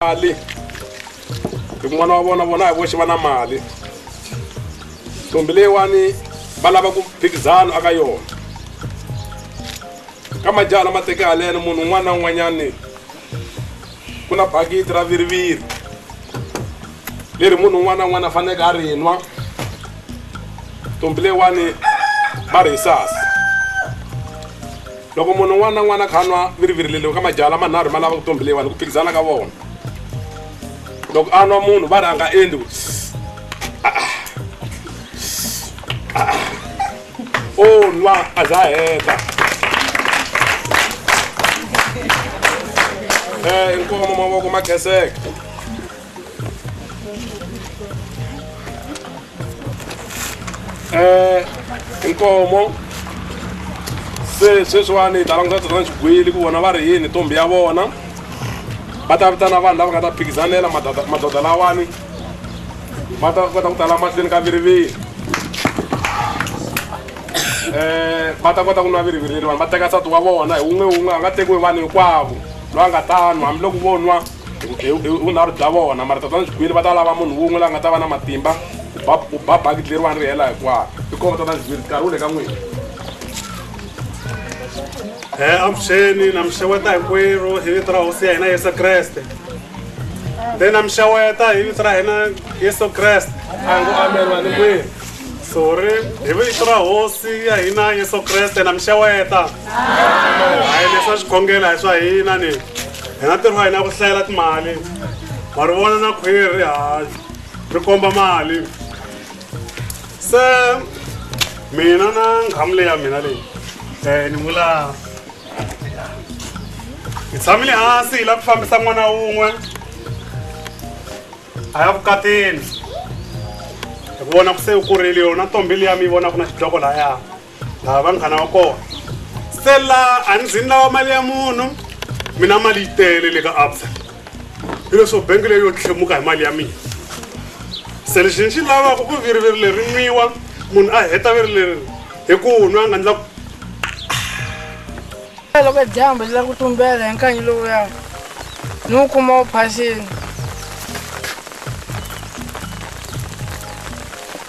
mali hi ku n'wana wa vona vona hi voxe va na mali ntombi leyiwani va lava ku phikizano aka yona ka majaha lama teke haleno munhu un'wana na un'wanyani ku na bakiti ra viriviri leri munhu un'wana na un'wana a faneleke a ri nwa ntombi leyiwani va ri hi sasa Loko munhu un'wana na un'wana a kha a nwa virivirileriwa ka majala manharhu ma lava ku tombhiliwa ni ku phikizana ka vona loko a nwa munhu va ri a nga endli ku o nwa a za heta um inkomo mavoko ma kheseka eh inkomo se sweswiwani hi ta languta tona xigwili ku vona va ri yini ntombi ya vona va ta vitana vanhu lava nga ta phikizanela madodha lawani va ta kota ku tala mahlweni ka viriviri um va ta kota ku nwa viriviriri vanhu va teka nsati wa vona hi wun'we wun'we a nga tekiwi vanhu hinkwavo loyi a nga ta nwa hambiloko vo nwa hi vunharhu bya vona mara tatana xigwili va ta lava munhu wun'we la nga ta va na matimba u ba bakiti leriwani ri hela hikwaro i koma tatana xigwili nkarhi wu le ka n'wina e eh, avuxeni na mi xeweta hinkwerhu hi vito ra hosi ya hina yesu kreste te na mi xeweta hi vito ra hina yesu kreste a ngo amen vanhu kwini sorry hi vito ra hosi ya hina yesu kreste na mi xeweta hayi leswa xikhongela hi swa hina ni hina ntirho wa hina ku hlayela timali wa ri vona na khwiri ri hayi ri komba mali se mina na nghamu leyi ya mina leyi um ni vula hi tshamile hansi hi lava ku fambisa n'wana wun'we a ya vukatini hi vona ku se u kurile yona ntombi liya mi yi vonaka na xidloko lahaya ha vanghana wa kona stella a ni zini lawa mali ya munhu mina mali yi tele le ka absa hi leswo bengi leyi yo tlhemuka hi mali ya mina se lexi ni xi lavaka ku viriviri leri nwiwa munhu a heta viri leri hi ku nwa a nga ndla loko dyambu ri la ku tumbela hi nkanyi lowuya ni wu kuma wu phasini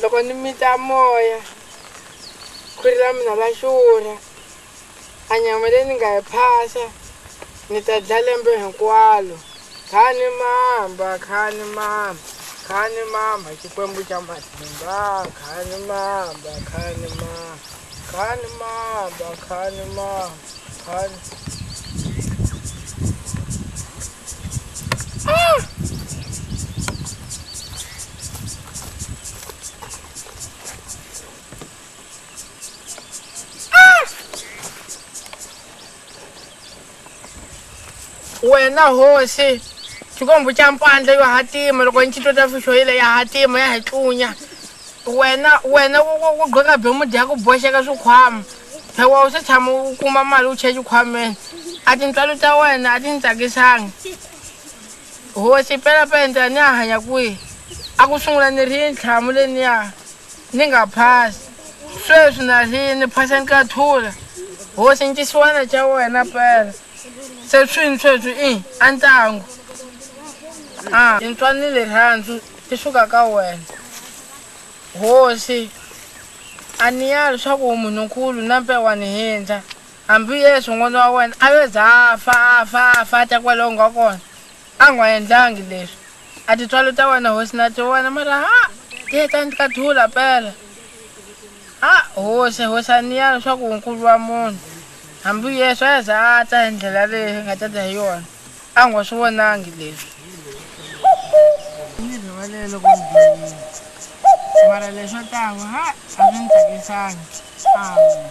Loko ni mita moya, khwiri ra mina ra xurha, a nyama leyi ni nga yi phasa, ni ta dlaya lembe hinkwalo. Khani mamba, khani mamba, khani mamba, Xikwembu xa matimba, khani mamba, khani mamba. Khani mamba khani mamba khani wena hosi xikwembu xa mpandla yo hatima loko ni xitota fixo yile ya hatima ya hi tlunya wena wena ku gqoka bemudi ya ku boxeka swikhwama hewa u se tshama u kuma mali u chela xikhwameni a tintswalo ta wena a ti ni tsakisanga hosi pelapela ni ya hanya kwihi a ku sungula ni ri yi ntlhamu leniya Ni nga phasi. Sweswi na ri ni phasa ni ka thula. Hosi ni xisiwana xa wena pela. Se swini sweswi i a ntangu. A ni ntswanile rhandzu ti suka ka wena. Hosi a ni ya leswaku u munhu nkulu na mpe wa ni hindza. Hambi Yesu n'wana wa wena a yo za a fa a fa a fa a ta kwale u nga kona a nga endlangi leswi. A titswalo ta wena hosi na tiwona mara ha ti heta ni ka thula pela ha hosi hosi a ni ya leswaku nkulu wa munhu hambi yesu a za a ta hi ndlela leyi nga ta ta hi yona a ngo swi vonangi leswi ni rivalele loko mara leswo tanga ha a swi ni tsakisangi amen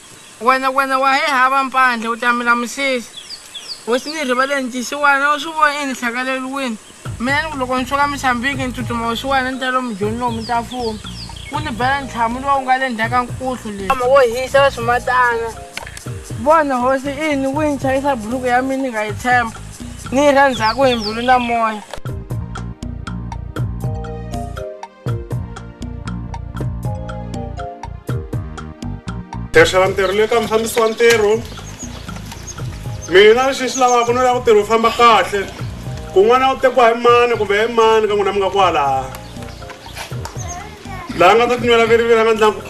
Wena, wena wa hi hava mpandla, u ta mi lamusisa. Hosi, ni rivaleni ncisiwana, u swi vo ini hlakaleriwini? Mina ni ku loko ni suka Misambiki ni tsutsuma hosi-wena ni ta lomu Joni lowu mi ta fuma. Wu ni bela ntlhamu lowu nga le ndzhaku ka nkuhlu leyi. Nkama wo hisa wa swimatana. Vona, hosi, ini wi ni chayisa buruku ya mina ni nga yi tshemba, ni yi rha ndzhaku hi mbilu na moya. tirhisela ntirho le ka mufambisi wa ntirho mina lexi xi lavaka no lava ku tirhi wu famba kahle kun'wana u tekiwa hi mani kumbe hi mani ka n'wina mi nga kwalaha laha nga ta tinywela viriviri a nga ndlangu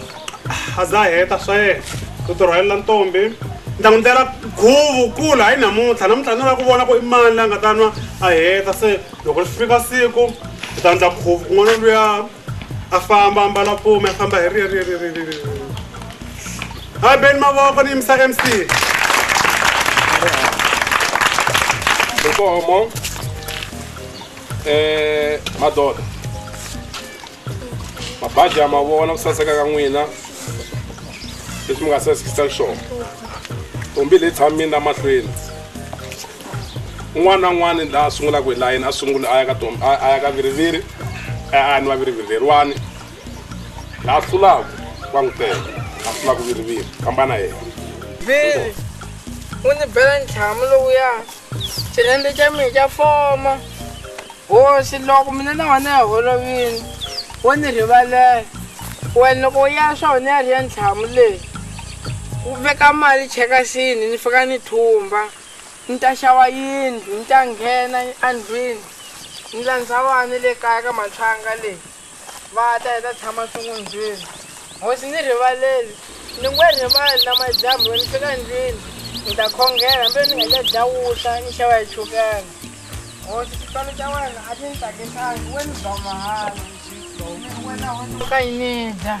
a za heta swa yena u tirhwalela ntombi ni ta n'wi ndlela khuvu kula hayi namuntlha namuntlha ni lava ku vona ku i mani la nga ta nwa a heta se loko ri fika siku u ta endla khuvu kun'wana luya a famba a mbala pfuma a famba hi riririririri a beni mavoko ni yimisa mc nkomo um eh, madoda mabaji ya mavona ku saseka ka n'wina leswi mi nga sasekisa xona tombi leyi tshamini na mahlweni un'wana na un'wana laha a sungulaka hi layeni a sungula a ya ka tom a ya ka viriviri a ni va viriviri leriwani laha hlulaka wa n'wi teka a hlulaka viriviri kambana yena viri u ni bela ntlhamu lowuya xirende xa mina xa foma hosi loko mina na wena ya holovini wo ni rivalela wena loko u ya swa wena ya ri ya ntlhamu leyi u veka mali chekasini ni fika ni thumba Ni ta xava yindlu, ni ta nghena endlwini, ni landza vana le kaya ka matlhanga le, va ta, hi ta tshama swin'undzwini. Hosi, ni rivaleli, ni nge rivali, namadyambu loko ni fika endlwini, ni ta khongela, hambiloko ni nga ta dya wutla, ni xava hi chukela. Hosi, xipano xa wena a xi ni tsakisangi, we ni ba mahala, ni wena hosi, u ta yi ni dya.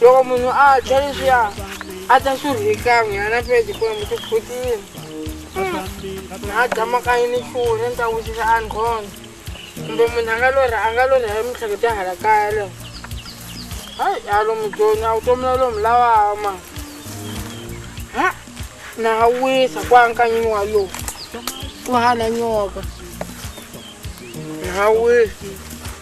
loko munhu a dya leswiya a ta swi rhikan'we yana pedi ku ya mutikhutini na a dya makayi ni chuwu ni ta wisisa a ndhona kumbe munhu a nga lorha a nga lorha hi mihlekete ya hala kaya leyo hayi a lomu joni a wu tomula lomu lawawa ma ha na ha wisa ku ankanyini wa lowu ku hana nyoka na ha wisa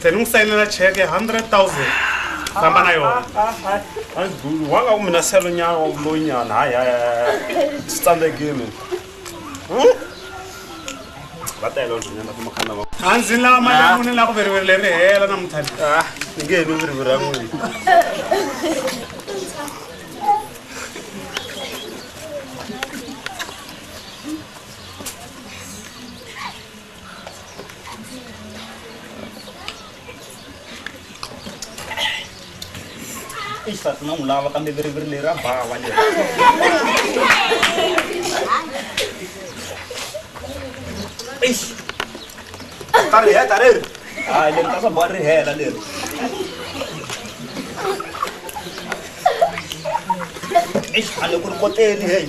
se ni n'wi sayinela cheke ya hundred thousand famba na yona andulu wanga ku mina selo nyana wa vuloyinyana hayi hayi hayi swi tsandzekile va tele nyana kuma khana va a ndzi lava mali ya mune la ku viriviri leri hela na muthali ah ni nge ni viriviri ra n'wini isati na n'wi lava kambe viriviri leri ra bava leri ta ri heta leri hayi leri ta swa boha ri hela leri eish hale ku ri koteni heyi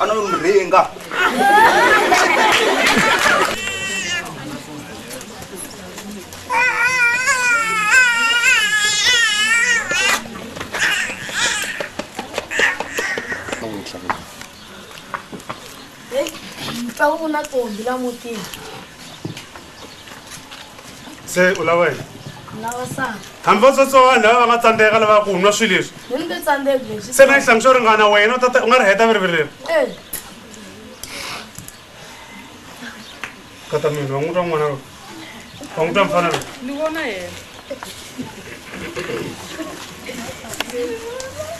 ana yo mi ringa Hey, mtsawu na kombi la mutini. se u lava yini lava saka hambi va tsotsowana lava va nga tsandzeka lava ku nwa swilo leswi hi ni nge tsandzeki leswi se na yi hlambi swo ringana wena u ta ta- u nga ri heta viriviri leri Eh, kata mina wa n'wi twa n'wana lowu wa n'wi twa mfana lowu ni vona yena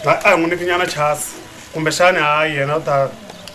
a a hi n'wi niki nyana chasi kumbexani hayi yena u ta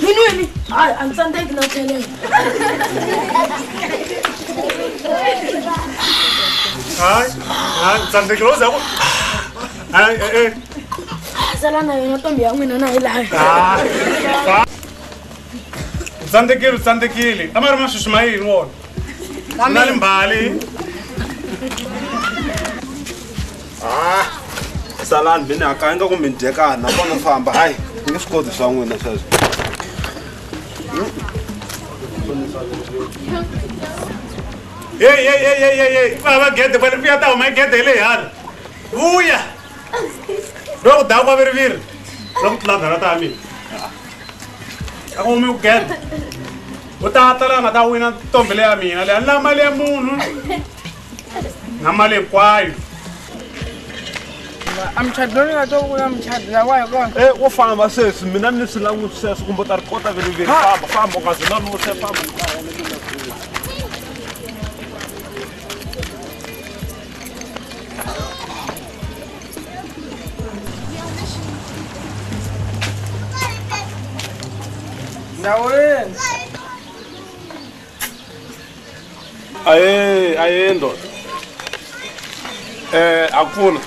Yini wini? Hayi, a ni tsandzeki na tlhelela. Hayi, hayi, ni tsandzekile wo za ku. Hayi, eh, eh. Sala na yona ntombi ya n'wina na hi laha. Hayi, hayi. U tsandzekile, u tsandzekile. A ma ri masweswi ma yini wona? Na le mbali. ha salani mi ni hakaya nga ku mi dyekana nakona famba hayi mi nge swi koti swa n'wina sweswo yeyeyeyeyeyi vava gede kwale vuya ta huma gede hi le hala vuya loko ku dawa kwaviriviri la ku tlula ndhara ta mina a ku humi ku gede u ta tala nga ta wina ntombi leya mina leya ni la mali ya munhu ngamali kwayo amchadi loyi nga to vula muchadi lawayo kona e wo famba sesi mina ni swi languti sweswo kumbe u ta ri kota veliveli famba famba u nga ze lanuse famba ndhawu yini aye aye ndoda eh akufuna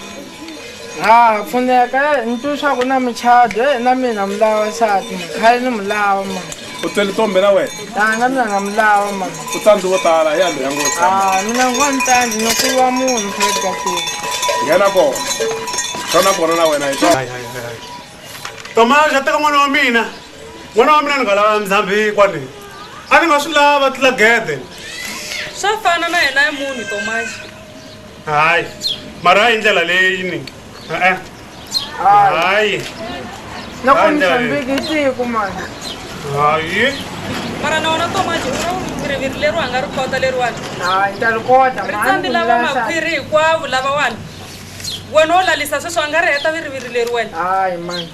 ha pfuneka eh, ni twi swa ku na muchado eh, na mina mi lava sati khale ni mi lava ma u twele tombe na wena a na mina na mi lava ma u tandi wo tala ya loya ngo tshama mina ngo ni tandi ni ku va munhu khale ka tini nghena kona xona kona na wena hi toma xa teka n'wana wa mina n'wana wa mina ni nga lava ndzhambi kwani a ni nga swi lava tlula gede swa fana na yena ya munhu tomaxi hayi mara hi ndlela leyi ni e-e hayi na ku Hayi, ni ndlela leyi. hlambiki siku mani hayi mara na wona tomaxi u riviri leri wa nga ri kota leriwani hayi ta ri kota ri tsambi lava makhwiri hinkwavo lavawani wena wo lalisa sweswi a nga ri heta viriviri leri wena hayi mani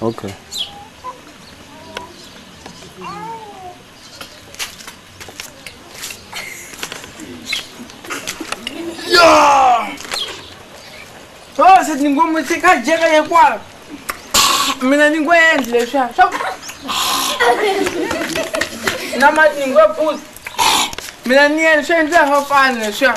okay so se ni ngo mi se ka jeka ye kwa mina ni ngo endli leswa swa na ma ni ngo put mina ni endli swa endla ho fana leswa